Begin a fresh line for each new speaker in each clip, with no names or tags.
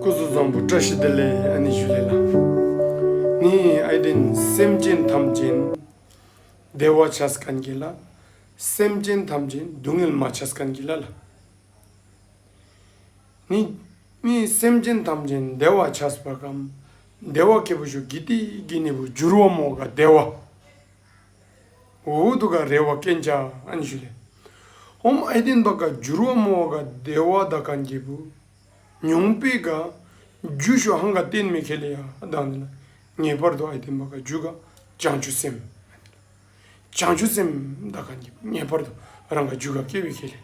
སྐུ་གཟུགས་བཟང་པོ་བཀྲ་ཤིས་བདེ་ལེགས་ཨ་ནི་ཞུ་ལེ་ལགས། ངའི་ཨའི་དྲིན་སེམས་ཅན་ཐམས་ཅན་བདེ་བ་བྱ་སྐལ་གྱིས་ལ། སེམས་ཅན་ཐམས་ཅན་སྡུག་བསྔལ་མ་བྱ་སྐལ་གྱིས་ལ་ལ། ནི་ནི་སེམས་ཅན་ཐམས་ཅན་བདེ་བ་བྱ་སྤ་གམ་བདེ་བ་སྐྱེ་བོ་ཞུ་དགེ་སྡིག་གི་ནི་བུ་འགྱུར་བ་མོ་ག་བདེ་བ། འོད་དུ་ག་རེ་བ་ཀན་ཅཱ་ཨན་ཞུ་ལེ། ཧོམ་ཨའི་ཏིན་པ་ག་འཇུར་བ་མོ་བ་ག་དེ་བ་དཱ་ག་འགྱེད་བུ། ཉུང་པའི་ག། འཇུ་ཤོ་ཧང་ག་ཏན་མེ་ཁེ་ལེ་ཡ་དཱ་ནི་ལ། ངེས་པར་དུ་ཨའི་ཏིན་པ་ག་འཇུ་ག་བྱང་ཆུབ་སེམས་མ་ནི་ལ། བྱང་ཆུབ་སེམས་དཱ་ག་འགྱེད་བུ་ངེས་པར་དུ་རང་ག་འཇུ་ག་སྐྱེ་བའི་ཁེ་ལེ་ལ།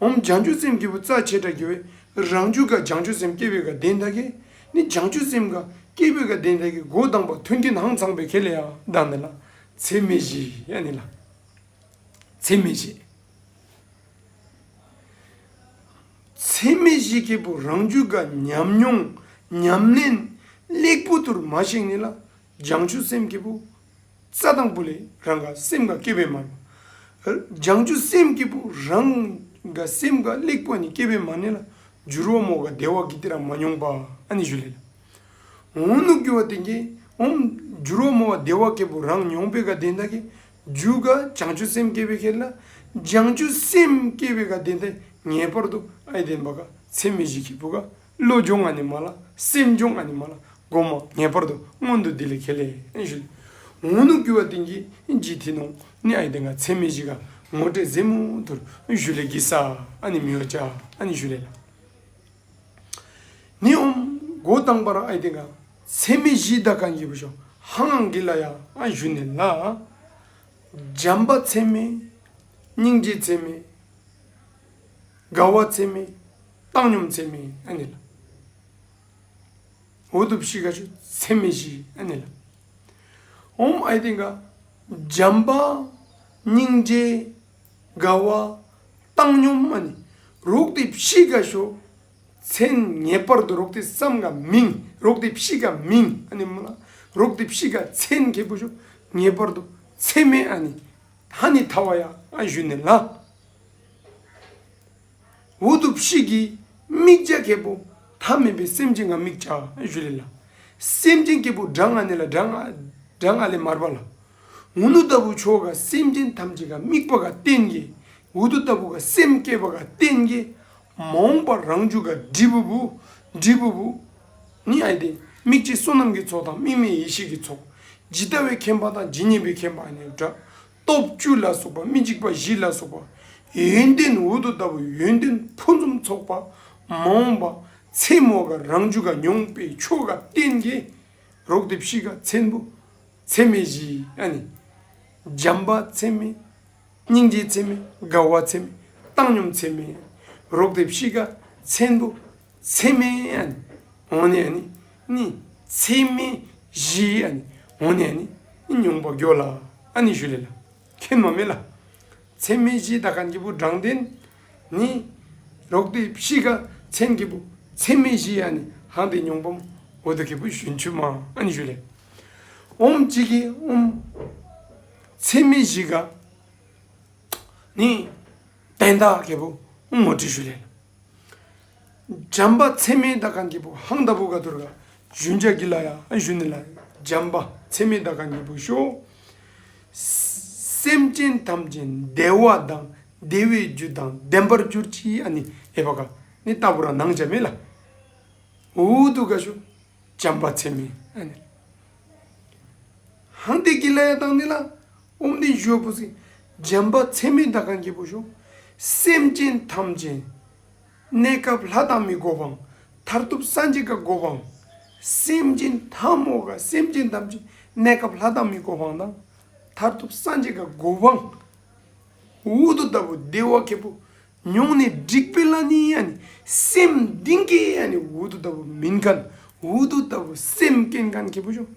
འོམ་བྱང་ཆུབ་སེམས་སྐྱེས་བུ་རྩ་བྱེ་བྲག་གི་རང་རྒྱུད་ཀ་བྱང་ཆུབ་སེམས་སྐྱེས་བུའི་དགའ་ལྡན་བདག་གིས་ནི་བྱང་ཆུབ་སེམས་དགའ་སྐྱེས་བུའི་དགའ་ལྡན་བདག་གི་སྒོ་བསྡམས་པ་མཐུན་རྐྱེན་ཧང་ཚང་པའི་གལ་ལས་ལྡང་ནི་ལ། ཚད་མེད་བཞི་ཡ་ནི་ལ། ཚད་མེད་བཞི། ཚད་མེད་བཞི་སྐྱེས་བུ་རང་རྒྱུད་ཀ་ཉམས་མྱོང་ཉམས་ལེན་གླེགས་བུ་དུར་མ་བཤིག་ནི་ལ་བྱང་ཆུབ་སེམས་སྐྱེས་བུ། རྩ་དང་པོ་ལས་རང་ག་སེམས་འགའ་སྐྱེ་བས་མ་རུང། སྦྱང་ཆུ་སེམས་སྐྱེས་བུ་རང་ག་སེམས་འགའ་གླེགས་བུ་ནི་སྐྱེ་བས་མ་གནས་ལ། འགྱུར་བ་མོ་ག་བདེ་བ་གི་ཏི་ར་མ་མྱོང་པ་ཨ་ནི་ཞུ་ལེ་ལ། འོང་ནུབ་རྒྱུ་བ་དེ་ཀྱིས་འོང། འགྱུར་བ་མོ་བ་བདེ་བ་སྐྱེས་བུ་རང་མྱོང་པའི་ག་དེ་འདའ་གི། རྒྱུ་ག་སྦྱང་ཆུ་སེམས་སྐྱེ་བའི་ཁེར་ལ། སྦྱང་ཆུ་སེམས་སྐྱེ་བའི་ག་དེ་འདའ་ངེས་པར་དུ་ཨའི་བདེན་པ་ག་ཚད་མེད་བཞི་སྐྱེས་བུ་ག་བློ་སྦྱོང་ང་ནི་མ་ལ་སེམས་སྦྱོང་ང་ནི་མ་ལ་སྒོམ་མ་ངེས་པར་དུ་སྔོན་དུ་འདི་ལས་ཁས་ལེན་ཞུ། ངོ་ནུ་བསྐུལ་བ་ཏིང་གི་ལྗིད་ཐིག་ནོངས་ནི་ཨ་ཡི་དེ་འགའ་ཚད་མེད་བཞི་ག་ངོ་སྤྲད་གཟིགས་མོ་དུར་བཞུ་ལས་ཀྱི་ས་ཨ་ནི་མི་བ་ཅག་ཨ་ནི་བཞུ་ལས་ལ་ནི་ཨོམ་སྒོ་བཏང་པར་ཨ་ཡི་དེ་འགའ་ཚད་མེད་བཞི་བདག་གང་བགྱིད་པ་ཤོག་ཧ་ང་གི་ལ་ཡ་ཨ་བཞུ་ནས་ལ། འཇམ་པ་ཚད་མེད་སྙིང་རྗེ་ཚད་མེད་དགའ་བ་ཚད་མེད། བཏང་སྙོམས་ཚད་མེད་ཨ་ནི་ལ། འོད་དུ་བཞི་ཀ་ཆུ་ཚད་མེད་བཞི་ཨ་ནི་ལ། ཧཱུྃ་ཨའི་ཏིང་ཀ་འཇམ་དཔལ་སྙིང་རྗེའི་དགའ་བ་བཏང་སྙོམས་ཨ་ནི་རོག་ཏི་བཞི་ཀ་ཆུ་ཚད་ངེས་པར་དུ་རོག་ཏི་བསམ་ཀ་མིང་རོག་ཏི་བཞི་ཀ་མིང་ཨ་ནི་མོ་ལ་རོག་ཏི་བཞི་ཀ་ཚད་མཁས་པོ་ཆུ་ངེས་པར་དུ་ཚད་མེད་ཨ་ནི་ཧ་ནི་ཐ་བ་ཡ་ཨ་བཞུ་ནི་ལ། འོ་དུ་བཞི་གིས་དམིགས་བྱ་སྐྱེས་བུ་ཐ་མི་དཔེ་སེམས་ཅན་གང་དམིགས་བྱ་བཞུ་ལས་ལ། སེམས་ཅན་སྐྱེས་བུ་དྲག་སྔགས་ནི་ལ་དྲག་སྔགས་ལས་མར་པ་ལ། འོ་ནུ་ལྟ་བུ་མཆོག་ག་སེམས་ཅན་ཐམས་ཅད་ག་དམིགས་པ་ག་རྟེན་གྱི་འོ་དུ་ལྟ་བུ་ག་སེམས་བསྐྱེད་པ་ག་རྟེན་གྱི་མ་འོངས་པ་རང་བྱུང་ག་དྲིལ་བུ་བུ་དྲིལ་བུ་བུ་ནི་ཨ་ཏི་དམིགས་བྱེད་བསོད་ནམས་ཀྱི་ཚོགས་དང་དམིགས་མེད་ཡེ་ཤེས་ཀྱི་ཚོགས་ཇི་ལྟ་བའི་མཁྱེན་པ་དང་ཇི་སྙེད་པའི་མཁྱེན་པ་ནི་སྒྲ་སྟོབས་བཅུ་ལ་སོགས་པ་མི་འཇིགས་པ་བཞི་ལ་སོགས་པ། ཡོན་ཏན་འོད་དུ་ལྟ་བུ་ཡོན་ཏན་ཕུན་སུམ་ཚོགས་པ་མ་འོངས་པ། མཚན་མོ་ག་རང་བཅུ་ག་མྱོང་པའི་མཆོག་ག་བསྟན་རྒྱས་རོག་དེ་བཞི་ག་མཚན་པོ་མཚན་མེད་བཞི་ཨ་ནི། འཇམ་པ་མཚན་མེད་སྙིང་རྗེ་མཚན་མེད་དགའ་བ་མཚན་མེད་བཏང་སྙོམས་མཚན་མེད་རོག་དེ་བཞི་ག་མཚན་པོ་མཚན་མེད་ཨ་ནི། འོང་ནས་ཨ་ནི། ནི། ཚད་མེད་བཞིའི་ཨ་ནི་འོ་ནས་ནི། མྱོང་བ་འགྱོད་ལ་ཨ་ནི་ཞུ་ལེ་ལ། ཁེན་མ་མེད་ལ། ཚད་མེད་བཞིའི་ད་ག་འཇིགས་པོ་བགྲང་ལྡན་ནི། རོག་ཏི་བཤིས་ཀ་ཚན་གྱི་བུ། ཚད་མེད་བཞིའི་ཨ་ནི་ཧང་ཏེ་མྱོང་བམ། འོ་ཏི་གི་བུ་ཞུན་ཆུ་མ་ཨ་ནི་ཞུ་ལེ། འོམ་གཅིག་གི་འོམ། ཚད་མེད་བཞི་ག་ནི། བན་དག་གི་བུ་འོམ་མོ་དྲི་ཞུ་ལེ་ལ། འཇམ་པ་ཚད་མའི་ད་གའ་འབྲས་བུ་ཧཱུྃ་ད་བུ་ག་དུར་ཀ་བཞུ་འཇའ་གི་ལ་ཡ་བཞུ་ནི་ལ། འཇམ་པ་ཚད་མའི་ད་གའ་འབྲས་བུ་ཤོ། སེམས་ཅན་ཐམས་ཅད་བདེ་བ་དང་བདེ་བའི་རྒྱུ་དང་ལྡན་པར་གྱུར་ཅིག་ཨ་ནི་ཨེ་བ་ག་ནི་ད་བུ་ར་ནང་འཇའ་མེད་ལ། ཧཱུྃ་དུ་ག་བཞུ། འཇམ་པ་ཚད་མའི་ཨ་ནི་ལ། ཧཱུྃ་འདས་ཀྱི་ལ་ཡ་དང་ནི་ལ། དབུ་མདེལ་བཞོས་བུ་ཟིག། འཇམ་པ་ཚད་མེད་ཟླ་གམ་སྐྱེས་བུ་ཞུགས། སེམས་ཅན་ཐམས་ཅད། གནས་སྐབས་ལྷ་དང་མི་འགོ་བའང། མཐར་ཐུག་སངས་རྒྱས་བཀའ་བསྒོ་བའང། སེམས་ཅན་ཐམས། མོ་ག་སེམས་ཅན་ཐམས་ཅད་གནས་སྐབས་ལྷ་དང་མི་འགོ་བའང་དང། མཐར་ཐུག་སངས་རྒྱས་བཀའ་བསྒོ་བའང། འུ་ཐུག་ལྟ་བུ་བདེ་བ་ཁེགས་པོ། མྱོང་ནས་འགྲིག་པའི་བླ་ནི་ཡང་ནི། སེམས་གདིང་ཁེགས་ཡང་ནི་འུ་ཐུག་ལྟ་བུ་མིན་གང། འུ་ཐུག་ལྟ་བུ་སེམས་སྐྱེ་མཁན་ཁེགས་པོ་ཞུགས།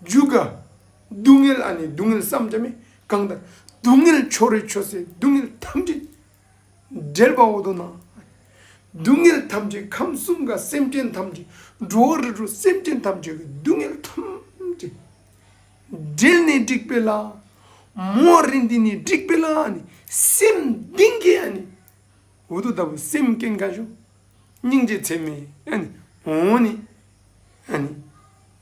རྒྱུ་དགའ། སྡུག་བསྔལ་ཨ་ནི་སྡུག་བསྔལ་བསམ་གྱིས་མི་དགང་ལྟར། སྡུག་བསྔལ་ཕྱོགས་རེ་ཆོས་སྲིད་སྡུག་བསྔལ་ཐམས་ཅད་བསྒྲལ་བ་འོ་དོ་ན། སྡུག་བསྔལ་ཐམས་ཅད་ཁམས་གསུམ་དགའ་སེམས་ཅན་ཐམས་ཅད་འགྲོ་བ་རི་ཁྲོད་སེམས་ཅན་ཐམས་ཅད་ཀྱི་སྡུག་བསྔལ་ཐམས་ཅད་བསྒྲལ་ནས་འགྲིག་པའི་ལྷ། མོ་རི་འདི་ནི་འགྲིག་པའི་ལྷ་ཨ་ནི་སེམས་གདིང་གི་ཨ་ནི་འོ་དོ་ལྟ་བུ་སེམས་བསྐྱེད་འགའ་ཞུགས་སྙིང་རྗེ་ཚད་མེད་ཨ་ནི་འོ་ནི་ཨ་ནི།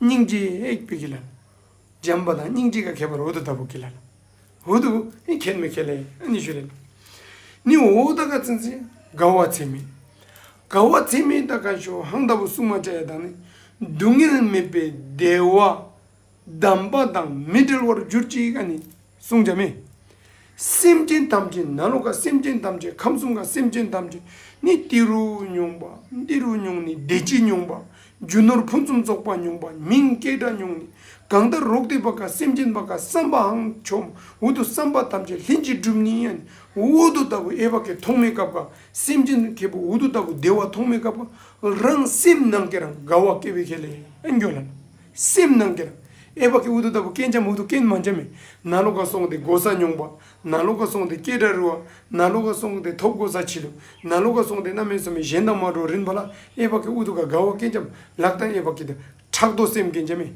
སྙིང་རྗེ་ཨེ་བི་གི་ལ། འཇམ་པ་དང་སྙིང་རྗེ་ཀ་གས་པར་འོ་དུ་ད་བུ་གི་ལ། འོ་དུ་ཨེ་གས་མི་གས་ལ་ཡི་ཨ་ནི་ཞུ་ལེ། ནི་འོ་ད་ག་ཚན་ཚིན་ག་བ་ཚེ་མི། ག་བ་ཚེ་མི་ད་ག་ཞོ་ཧང་ད་བུ་སུ་མ་ཅ་ཡ་དང་ནི། སྡུག་བསྔལ་མེད་པའི་བདེ་བ། གདམས་པ་དང་མི་འབྲལ་བར་གྱུར་ཅིག་ཨ་ནི་བསྲུང་བྱ་མེད། སེམས་ཅན་ཐམས་ཅད་ནཱ་རོ་ཀ་སེམས་ཅན་ཐམས་ཅད་ཁམས་གསུམ་ཀ་སེམས་ཅན་ཐམས་ཅད་ནི་ཏི་རུ་སྨྱུང་པ་ཏི་རུ་སྨྱུང་ནི་བདེ་སྐྱིད་སྨྱུང་པ་རྒྱུ་ནོར་ཕུན་སུམ་ཚོགས་པ་སྨྱུང་པ་མིང་སྐྱེས་དགྲ་སྨྱུང་ནི་གང་ལྟར་རོག་ཏི་པ་ཀ་སེམས་ཅན་པ་ཀ་བསམ་པའང་ཆོམ་འུ་དུ་བསམ་པ་ཐམས་ཅད་ལྷན་ཅིག་འགྲུབ་ནི་ཨན་འུ་དུ་ལྟ་བུ་ཨེ་བ་ཀས་ཐོག་མེད་སྐབས་ཀ་སེམས་ཅན་གྱི་བུ་འུ་དུ་ལྟ་བུ་བདེ་བ་ཐོག་མེད་སྐབས་ཀ་རང་སེམས་ནང་ཀེ་རང་དགའ་བ་སྐྱེ་བའི་ཁེ་ལས་འགྱོ་ལ། སེམས་སྣང་སྟེར། ཨེ་བག་གི་འུ་ཐུག་ལྟ་བུ་རྐན་འཇམ་འུ་ཐུག་རྐན་མ་འཇམ་མི། ན་ལོ་ཀ་སོང་སྟེ་སྒོ་ཟྭ་མྱོང་བ། ན་ལོ་ཀ་སོང་སྟེ་སྐད་སྒྲ་རུལ་བ། ན་ལོ་ཀ་སོང་སྟེ་ཐོབ་སྒོ་ཟྭ་འཆི་ལུགས། ན་ལོ་ཀ་སོང་སྟེ་རྣམ་སྨིན་སོ་མི་གཞན་དང་མ་འགྲོགས་རིན་པ་ལ། ཨེ་བག་གི་འུ་ཐུག་ཀ་དགའ་བ་རྐན་འཇམ་ལག་དང་ཨེ་བག་གི། ཕྲག་དོག་སེམས་རྐན་འཇམ་མི།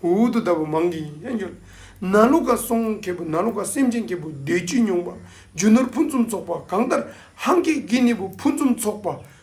འུ་ཐུག་ལྟ་བུ་མང་གིས་ཨེ་འབྱོར། ན་ལོ་ཀ་སོང་སྐྱེས་བུ་ན་ལོ་ཀ་སེམས་ཅན་སྐྱེས་བུ་སྡོད་བཅུད་མྱོང་བ། རྒྱུ་ནོར་ཕུན་སུམ་ཚོགས་པ་གང་ལྟར་ཧང་ཀེ་གི་ནི་བུ་ཕུན་སུམ་ཚོགས་པ།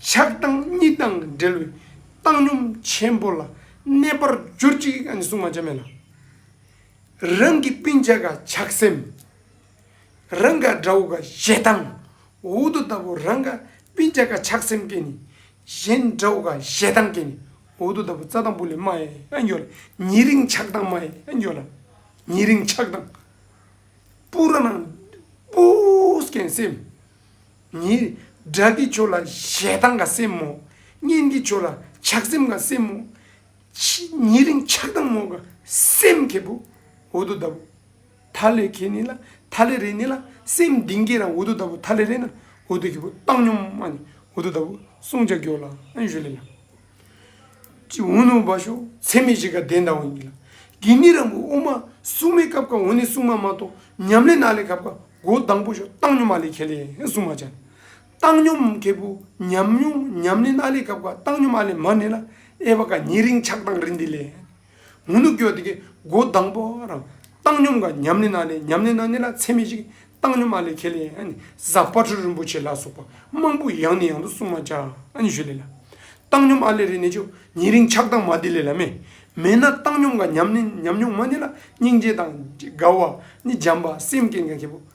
ཆགས་སྡང་གཉིས་དང་འབྲེལ་བའི་བཏང་སྙོམས་ཆེན་པོ་ལ་གནས་པར་གྱུར་ཅིག་ཨ་ནི་སྲུང་མ་ཅན་མེད་ལ། རང་གི་སྤུན་ཆ་ག་ཆགས་སེམས། རང་ག་དགྲ་བོ་ག་ཞེ་སྡང། འོག་ཏུ་ལྟ་བུ་རང་ག་སྤུན་ཆ་ག་ཆགས་སེམས་ཀྱེ་ནི། གཞན་དགྲ་བོ་ག་ཞེ་སྡང་ཀྱེ་ནི། འོག་ཏུ་ལྟ་བུ་རྩྭ་དང་བུ་ལས་མ་ཨེ་འགྱོ་ལ། ཉེ་རིང་ཆགས་སྡང་མ་ཨེ་འགྱོ་ལ། ཉེ་རིང་ཆགས་སྡང། པུ་ར་ནང་པུ་སྐྱེན་སེམས། ཉིད། སྒྲ་གི་ཆོས་ལ་ཞེ་སྡང་དང་སེམས་མོ། སྙན་གྱི་ཆོས་ལ་ཆགས་སེམས་དང་སེམས་མོ། ཉིད་རིང་ཆགས་སྡང་མོ་དགའ་སེམས་ཁེ་བུ། འུ་དུ་ད་བུ། ཐ་ལེ་ཁེ་ནི་ལ་ཐ་ལེ་རེ་ནི་ལ་སེམས་གདིང་ཁེ་རང་འུ་དུ་ད་བུ་ཐ་ལེ་རེ་ན་འུ་དུ་ཁེ་བུ་བཏང་སྙོམས་མ་ནི་འུ་དུ་ད་བུ་བསྲུང་བྱ་སྐྱོ་ལ་ཨན་ཞུ་ལེ་ལ། ཅི་འོ་ནུ་བ་ཤོག་ཚད་མེད་བཞི་ཀ་གདན་དང་བ་ཉིད་ལ། དགེ་གནས་རང་བུ་དབུ་མ་སྲུང་མའི་སྐབས་ཀ་འོ་ནི་སྲུང་མ་མ་གཏོགས་ཉམས་ལེན་ནཱ་ལེ་ཁབ་ཀ་གོ་གདང་བུ་ཤོག་བཏང་སྙོམས་མ་ལེ་ཁེ་ལེ་སྲུང་མ་བྱ། བཏང་སྙོམས་ཁེ་བུ་ཉམས་མྱོང་ཉམས་ལེན་ནཱ་ལེ་ཁབ་ཀ་བཏང་སྙོམས་ཨ་ལེ་མ་ནེ་ལ་ཨེ་བ་ཀ་ཉེ་རིང་ཆགས་སྡང་རི་འདི་ལས། ངུ་ནུ་སྐྱོ་དགའི་སྒོ་བསྡམས་པོ་རང། བཏང་སྙོམས་དགའ་ཉམས་ནི་ན་ནི་ཉམས་ནི་ན་ནི་ལ་ཚད་མེད་ཅིག། བཏང་སྙོམས་ཨ་ལས་ཁེ་ལས་གཟའ་དཔའ་བྲུ་རིན་པོ་ཆེ་ལ་སོགས་པ་མང་པོ་ཡང་ནི་ཡང་དུ་གསུངས་མ་བྱ་ཞུ་ལེ་ལ། བཏང་སྙོམས་ཨ་ལས་རི་ནི་ཆུ་ཉིད་རིང་ཆགས་དྭངས་མ་བདེ་ལེ་ལ་མེ། མེད་ན་བཏང་སྙོམས་དགའ་ཉམས་ནི་ཉམས་མྱོང་མ་ནི་ལ་སྙིང་རྗེ་དང་དགའ་བ་ནི་འཇམ་པ་སེམས་བསྐྱེད་དགའ་ཁེ་པོ།